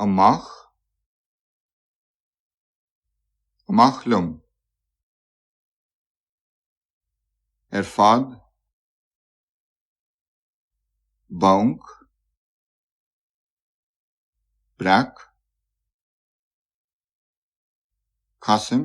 amach, amach liom, ar fad, banc, breac, casaim,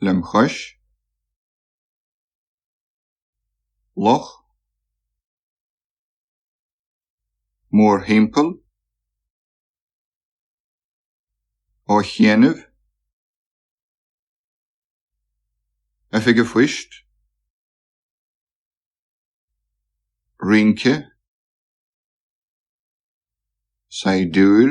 lem chois, loch, mórthimpeall, á chéanamh, oifige phoist, rince, saighdiúir,